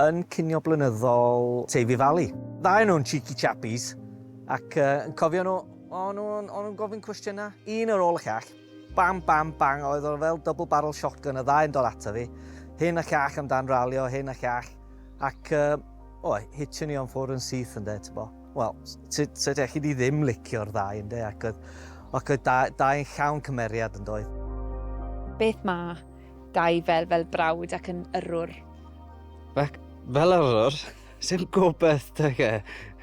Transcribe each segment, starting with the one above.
Yn cinio blynyddol Teifi Valley. Dau o nhw'n cheeky chappies ac yn cofio nhw, o'n nhw'n gofyn cwestiynau, un ar ôl y llall. Bam, bam, bang, oedd o fel double barrel shotgun y ddau yn dod ato fi. Hyn a llall amdan ralio, hyn a llall. Ac, o, hitio ni o'n ffwrdd yn syth yn de, ti'n bo. Wel, so dech chi di ddim licio'r ddau yn de, ac oedd, ac oedd dau yn llawn cymeriad yn doedd. Beth mae? Gaifel fel brawd ac yn yrrwr. Ac fel yrrwr, sy'n gobeith deg e.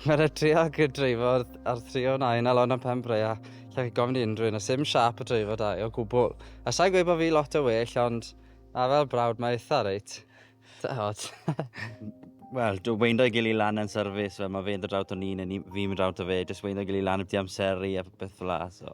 Mae'n rhaid tri ag y dreifod ar tri o nain a lon am pen breia. Lle chi gofyn i unrhyw un, a sy'n siap y dreifod da o gwbl. A sa'n gweud bod fi lot o well, ond a fel brawd mae eitha reit. Da hot. Wel, dwi'n weindo i gili lan yn service, fel mae fe'n dod drawt o'n un, a fi'n mynd drawt o fe, jyst weindo i gili lan y byd amseru a beth fel la, so.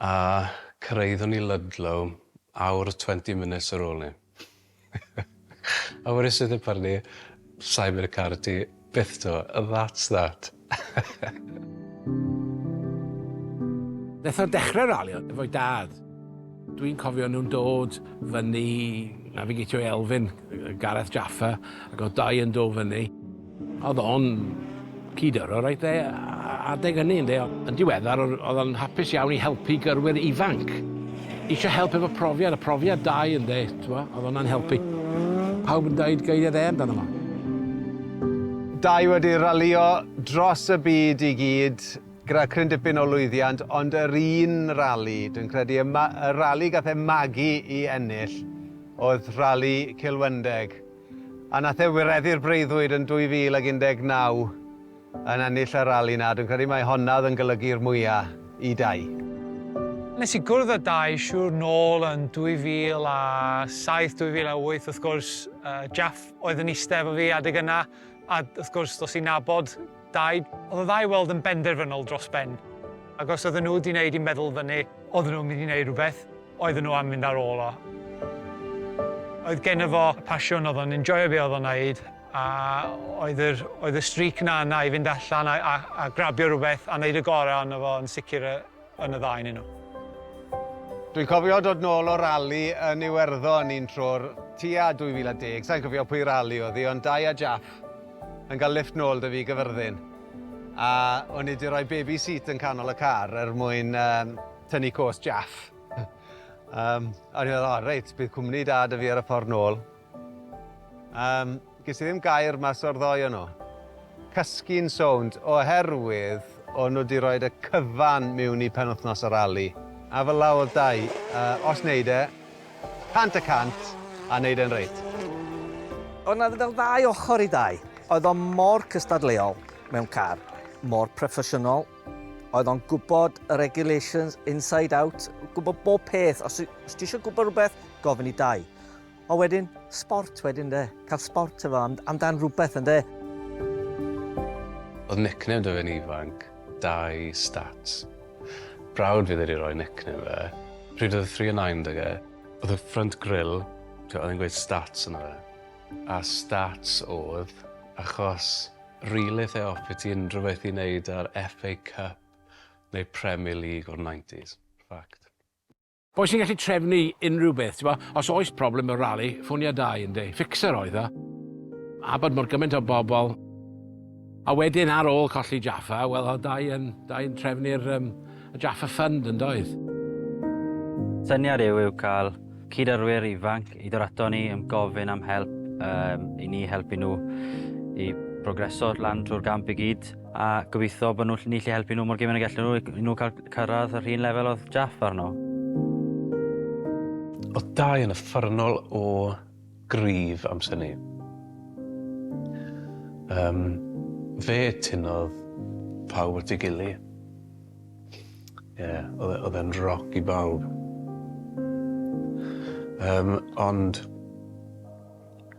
A cyrhaeddwn i Ludlow awr 20 minutes ar ôl 'ny. Our is it apparently sai mynd i'r car â ti byth 'to and that's that. Nath o dechre ralio efo'i dad. Dwi'n cofio nhw'n dod fyny Navigatio i Elfyn, Gareth Jaffa, ac o'dd dau yn do fyny. Oedd o'n cyd-aro reit dde adeg hynny ynde. Yn diweddar oedd o'n hapus iawn i helpu gyrwyr ifanc. Isio help efo profiad a profiad da i ynde t'mo oedd hwnna'n helpu. Pawb yn deud geiriau dde amdano fo. Dau wedi ralïo dros y byd i gyd gyda cryn dipyn o lwyddiant ond yr un rali dwi'n credu y ma- y rali gath e magu i ennill oedd rali Cilwendeg. A nath e wireddu'r breuddwyd yn 2019 yn ennill y rali na, dwi'n credu mai honna oedd yn golygu'r mwya i Dai. Nes i gwrdd â Dai siŵr nôl yn 2007, 2008 wrth gwrs, Jaff oedd yn iste efo fi adeg yna, a wrth gwrs dos i'n nabod Daid, oedd y ddau i weld yn benderfynol dros ben, ac os oedden nhw 'di wneud i meddwl fyny, oedden nhw'n mynd i wneud rhywbeth, oedden nhw am fynd ar ôl o. Oedd genno fo y pasiwn, oedd o'n enjoio be oedd o'n wneud, a oedd yr oedd y streak 'na yna i fynd allan a a a grabio rhywbeth a wneud y gorau ohono fo yn sicr yy. yn y ddau ynnyn nhw. Dwi'n cofio dod nôl o rali yn Iwerddon un tro'r tua 2010, sa'n cofio pwy rali oedd hi, ond Dai a Jaff yn cael lifft nôl da fi i Gyfyrddin. A o'n i di roi baby seat yn canol y car er mwyn um, tynnu cos Jaff. um, a o'n i'n meddwl, oh, reit, bydd cwmni da da fi ar y ffordd nôl. Yym, ges i ddim gair mas o'r ddou o nhw. Cysgu'n sownd, oherwydd o'n nhw 'di roid y cyfan miwn i penwythnos y rali. A fel 'a o'dd Dai, yy, os neud e, cant y cant, a neud e'n reit. O'dd 'na fel ddau ochor i Dai. Oedd o mor cystadleuol mewn car, mor proffesiynol, oedd o'n gwbod y regulations inside out, gwbod bob peth. Os ti isio gwbod rhywbeth, gofyn i Dai. O wedyn, sbort wedyn de, cael sbort efo, am, amdan rhywbeth yn de. Oedd nickname da fe'n ifanc, Dai Stats. Brawd fi ddaru roi nickname fe. Pryd oedd y three a nine da ge, oedd y front grill, oedd e'n gweud stats yna fe. A stats oedd, achos rili lle offi ti unrhyw beth i wneud â'r FA Cup neu Premier League o'r 90s. Fact. Boi sy'n gallu trefnu unrhyw beth, ti'n gwybod? Os oes problem mewn rali, ffonia Dai, ynde? Fixer oedd o. Abod mor gymaint o bobl. A wedyn ar ôl colli Jaffa, wel oedd Dai yn, Dai yn trefnu'r um, Jaffa Fund, yn doedd? Syniad yw yw cael cyd-arwyr ifanc i ddod ato ni yn gofyn am help um, i ni helpu nhw i progreso lan trwy'r gamp i gyd. A gobeithio bod nhw, ni lli helpu nhw mor gymaint y gallwn nhw, i nhw cael cyrraedd yr un lefel oedd Jaff arno. Oedd Dai yn uffernol o gryf amser ni. Um, fe tynodd pawb at ei gili. Ie, yeah, e, oedd e'n roc i bawb. Um, ond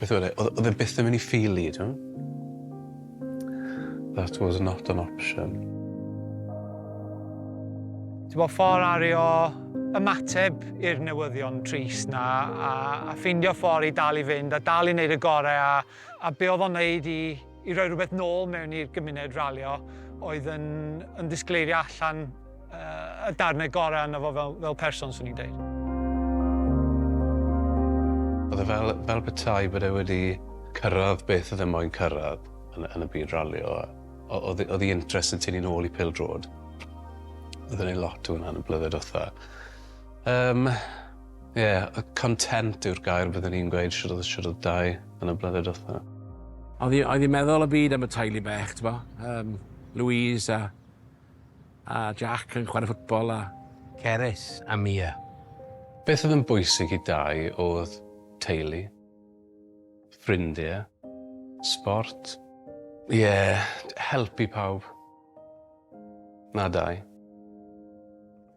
Beth oedd e? Oedd oedd e byth yn mynd i ffili, ti'n That was not an option. Ti'n gwybod, ffordd ario ymateb i'r newyddion trist na, a a ffeindio ffordd i dal i fynd a dal i wneud y gorau a a be oedd o'n wneud i i roi rhywbeth nôl mewn i'r gymuned ralio oedd yn, yn disgleirio allan uh, y darnau gorau yna fo fel, fel person, swn i'n dweud. Oedd e fel, fel bethau bod e wedi cyrraedd beth oedd e moyn cyrraedd yn, yn y byd ralio. Oedd ei interest yn tynnu'n ôl i pil drod. Oedd e'n ei lot o hwnna'n y blynedd wrtha. Um, Ie, content yw'r gair bydden i'n gweud shwd odd shwd odd Dai yn y blynedd dwetha. Oedd hi oedd hi'n meddwl y byd am y teulu bech t'bo yym Louise a a Jack yn chware ffwtbol a Cerys a Mia. Beth oedd yn bwysig i Dai oedd teulu, ffrindie, sport. Ie, helpu pawb. Na Dai.